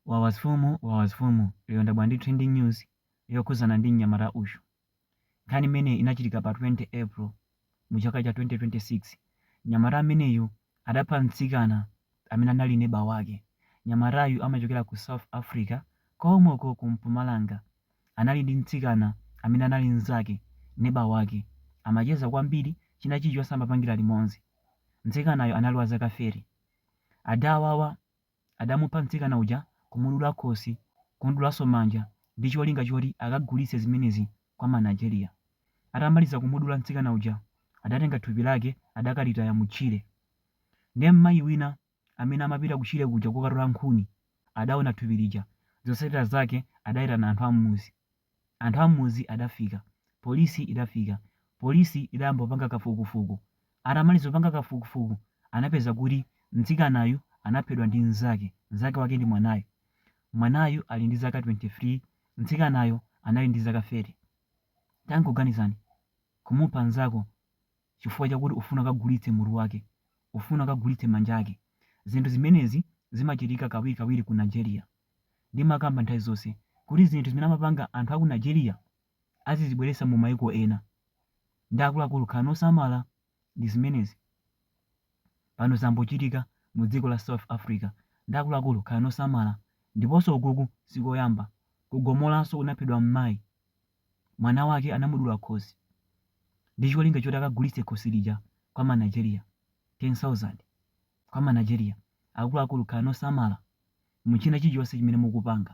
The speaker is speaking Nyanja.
Wawa mfumu wawa mfumu lero ndabwera ndi trending news yokhuzana ndi mnyamata uyu. Nkhani imeneyi inachitika pa 20 April mu chaka cha 2026. Mnyamata ameneyu adapha mtsikana amene anali neba wake. Mnyamatayu amachokera ku South Africa komweko ku Mpumalanga. Anali ndi mtsikana amene anali mzake, neba wake. Amacheza kwambiri china chilichonse amapangira limodzi. Mtsikanayu anali wa zaka 30. Adawawa adamupha mtsikana uja kumudula khosi kumudulaso manja ndi cholinga choti akagulitse zimenezi kwa ma Nigeria. Atamaliza kumudula mtsikana uja adatenga thupi lake adakalitaya mu tchire. Ndiye mmayi wina amene amapita kutchire kuja kokatola nkhuni adaona thupi lija zotsatira zake adaitana anthu a mmuzi. Anthu a mmuzi adafika. Polisi idafika. Polisi idayamba kupanga kafukufuku. Atamaliza kupanga kafukufuku, anapeza kuti mtsikanayu anaphedwa ndi mnzake. Mnzake wake ndi mwanayu. Mwanayu ali ndi zaka 23, mtsikanayo anali ndi zaka 30. Tangoganizani, kumupha mnzako chifukwa chakuti ufuna ukagulitse mutu wake, ufuna ukagulitse manja ake. Zinthu zimenezi zimachitika kawirikawiri ku Nigeria. ndimakamba nthawi zonse kuti zinthu zimene amapanga anthu aku Nigeria azizibweretsa mu maiko ena nde akuluakulu khalani osamala ndizimenezi pano zambochitika mu dziko la South Africa nde akuluakulu khalani osamala ndiponso ukuku sikoyamba ku Gomolanso kunaphedwa mmayi mwana wake anamudula khosi ndicholinga choti akagulitse khosi lija kwa ma Nigeria 10,000. Kwa ma Nigeria akuluakulu khalani osamala muchina chilichonse chimene mukupanga.